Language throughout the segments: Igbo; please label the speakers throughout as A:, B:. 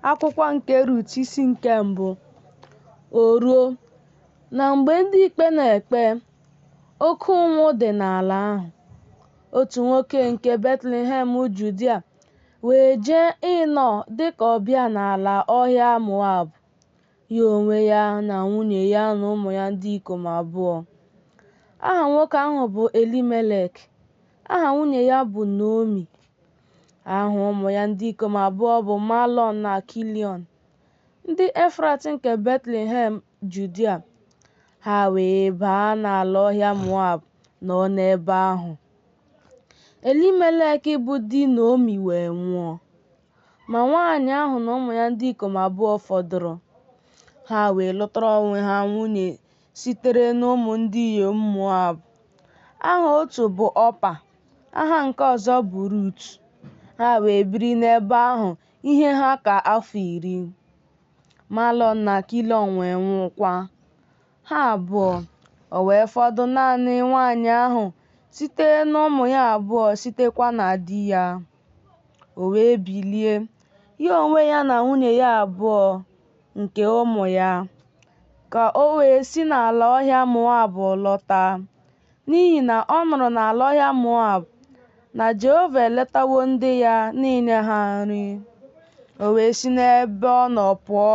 A: Akwụkwọ nke Rut isi nke mbụ O ruo, na mgbe ndị ikpe na-ekpe, oke ụnwụ dị n'ala ahụ. Otu nwoke nke Betlehem Judia wee jee ịnọ dị ka ọbịa n'ala ọhịa Moab, ya onwe ya na nwunye ya na ụmụ ya ndị ikom abụọ. Aha nwoke ahụ bụ Elimelek, aha nwunye ya bụ Naomi. Aha ụmụ ya ndị ikom abụọ bụ Malọn na Kiliọn, ndị Efrat nke Betlehem Judia. Ha wee baa n'ala ọhịa Moab nọọ n'ebe ahụ. Elimelek bụ di Naomi wee nwụọ. Ma nwaanyị ahụ na ụmụ ya ndị ikom abụọ fọdụrụ. Ha wee lụtara onwe ha nwunye sitere n'ụmụ ndị inyom Moab. Aha otu bụ Ọpa, aha nke ọzọ bụ Rut. Ha wee biri n'ebe ahụ ihe ha ka afọ iri. Malọn na Kiliọn wee nwụkwa ha abụọ. O wee fọdụ naanị nwaanyị ahụ site n'ụmụ ya abụọ sitekwa na di ya. O wee bilie, ya onwe ya na nwunye ya abụọ nke ụmụ ya, ka o wee si n'ala ọhịa Moab lọta, n'ihi na ọ nụrụ n'ala ọhịa Moab na Jehova eletawo ndị ya n'inye ha nri. O wee si n'ebe ọ nọ pụọ,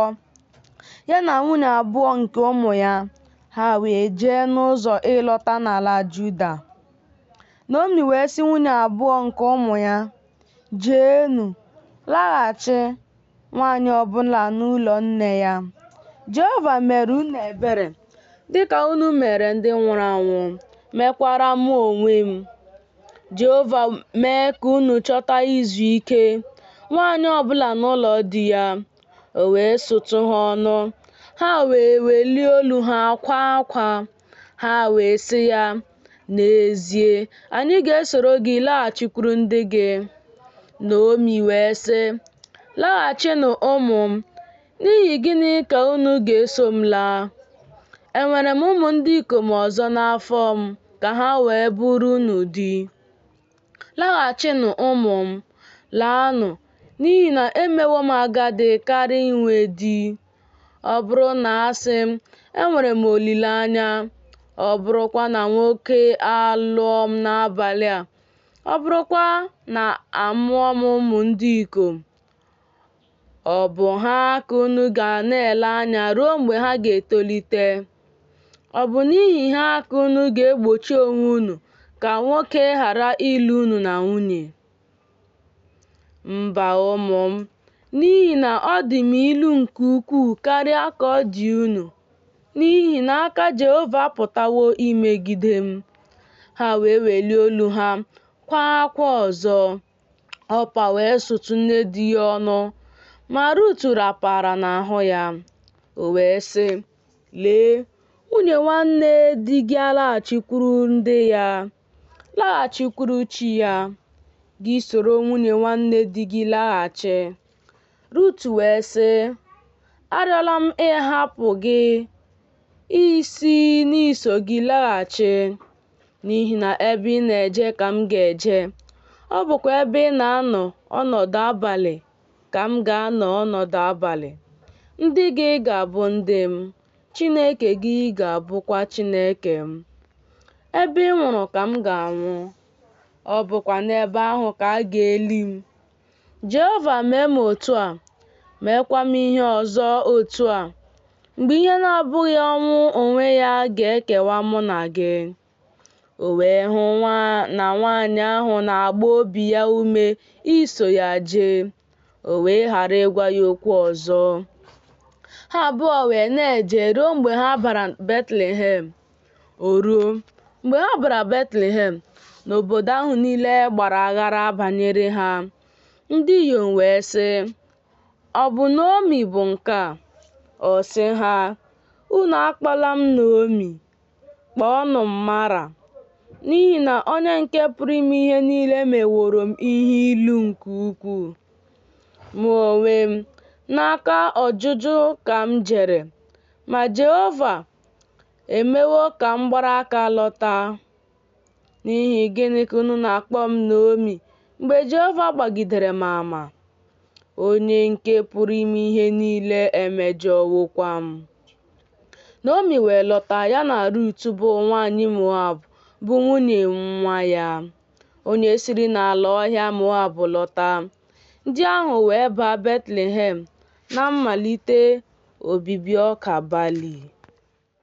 A: ya na nwunye abụọ nke ụmụ ya, ha wee jee n'ụzọ ịlọta n'ala Juda. Naomi wee sị nwunye abụọ nke ụmụ ya, Jeenụ, laghachi, nwaanyị ọ bụla n'ụlọ nne ya. Jehova mere unu ebere dị ka unu mere ndị nwụrụ anwụ, mekwara mụ onwe m. Jehova mee ka unu chọta izu ike, nwaanyị ọ bụla n'ụlọ di ya, o wee sụtụ ha ọnụ, ha wee welie olu ha kwaa akwa. Ha wee sị ya, N'ezie, anyị ga-esoro gị laghachikwuru ndị gị. Naomi wee sị, Laghachinụ ụmụ m, n'ihi gịnị ka unu ga-eso m laa? Enwere m ụmụ ndị ikom ọzọ n'afọ m ka ha wee bụrụ unu di. Laghachinụ ụmụ m, laanụ, n'ihi na emewo m agadi karị inwe di. Ọ bụrụ na asị m, enwere m olileanya, ọ bụrụkwa na nwoke alụọ m n'abalị a, ọ bụrụkwa na amụọ m ụmụ ndị ikom, Ọ bụ ha ka unu ga na-ele anya ruo mgbe ha ga-etolite. Ọ bụ n'ihi ha ka unu ga-egbochi onwe unu ka nwoke ghara ịlụ unu na nwunye? Mba ụmụ m, n'ihi na ọ dị m ilu nke ukwuu karịa ka ọ dị unu, n'ihi na aka Jehova apụtawo imegide m. Ha wee welie olu ha, kwaa akwa ọzọ. Ọpa wee sụtụ nne di ya ọnụ, ma Rut rapara n'ahụ ya. O wee sị, Lee, nwunye nwanne di gị alaghachikwuru ndị ya, laghachikwuru chi ya, gị soro nwunye nwanne di gị laghachi. Rut wee sị, Arịọla m ịhapụ gị isi n'iso gị laghachi. n'ihi na ebe ị na-eje ka m ga-eje, ọ bụkwa ebe ị na-anọ ọnọdụ abalị ka m ga-anọ ọnọdụ abalị. Ndị gị ga-abụ ndị m, Chineke gị ga-abụkwa Chineke m. Ebe ị nwụrụ ka m ga-anwụ, ọ bụkwa n'ebe ahụ ka a ga-eli m. Jehova mee m otu a, meekwa m ihe ọzọ otu a, mgbe ihe na-abụghị ọnwụ onwe ya ga-ekewa mụ na gị. O wee hụ na na nwaanyị ahụ na-agba obi ya ume iso ya jee, o wee ghara ịgwa ya okwu ọzọ. Ha abụọ wee na-eje ruo mgbe ha bara Betlehem. O ruo, mgbe ha bara Betlehem na obodo ahụ niile gbara aghara banyere ha, ndị inyom wee sị, Ọ bụ Naomi bụ nke a? Ọ sị ha, Unu akpọla m Naomi, kpọọnụ m Mara, n'ihi na Onye nke Pụrụ Ime Ihe Niile meworo m ihe ilu nke ukwuu. Mụ onwe m, n'aka ojuju ka m jere, ma Jehova emewo ka m gbara aka lọta. N'ihi gịnị ka unu na-akpọ m Naomi mgbe Jehova gbagidere m ama? Onye nke pụrụ ime ihe niile emejọwokwa m. Naomi wee lọta ya na Rut bụ nwanyị Moab bụ nwunye nwa ya, onye siri n'ala ọhịa Moab lọta. Ndị ahụ wee baa Betlehem na mmalite obibi ọka bali.